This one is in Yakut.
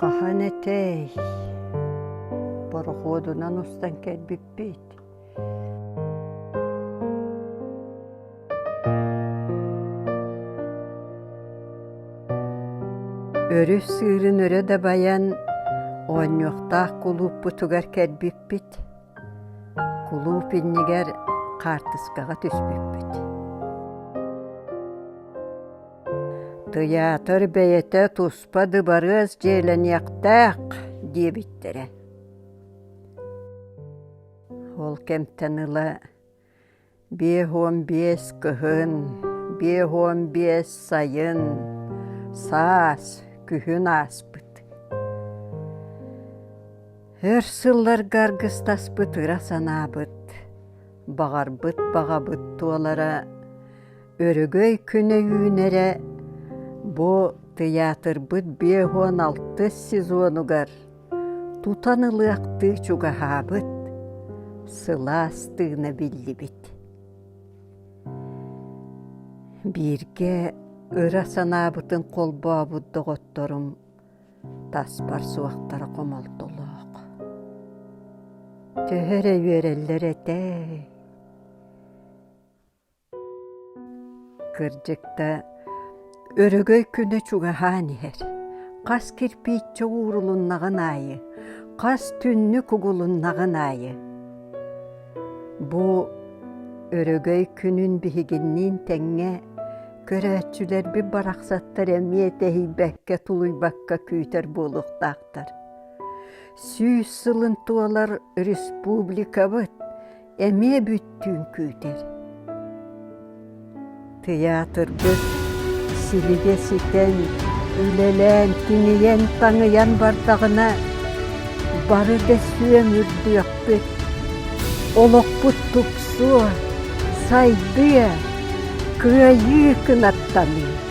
Хаһан этэй? Борохуодунан устан кэлбиппит. Өрүс сыырын өрө дабайан, оонньуохтаах кулууппутугар кэлбиппит. Кулууп иннигэр хаартыскаҕа түспүппүт. Тыйаатыр бэйэтэ тус подыбарыас дьиэлэниэхтээх диэбиттэрэ ол кэмтэн ыла биэс уон биэс кыһын биэс уон биэс сайын саас күһүн ааспыт өр сылларга аргыстаспыт ыра санаабыт баҕарбыт баҕабыт туолара Өрөгөй күнэ үүнэрэ бу тыйаатырбыт биэс уон алтыс сезонугар тутан ылыахтыы чугаһаабыт, сылаас тыына биллибит. Бииргэ ыра санаабытын холбообут доҕотторум таспар суохтара хомолтолоох. Төһө эрэ үөрэллэр этэ. Кырдьык да, өрөгөй күнэ чугаһаан иһэр. Хас кирпииччэ уурулуннаҕын аайы, хас түннүк угулуннаҕын аайы. Бу өрөгөй күнүн биһигинниин тэҥҥэ көрөөччүлэрбит барахсаттар эмиэ тэһийбэккэ, тулуйбакка күүтэр буолуохтаахтар. Сүүс сылын туолар республикабыт эмиэ бүттүүн күүтэр. Тыйаатыргыт силигэ ситэн, үлэлээн, тиҥийэн-таҥыйан бардаҕына, бары да сүөм үрдүөхпүт. Олохпут тупсуо, сайдыа, кыайыы кынаттаныа.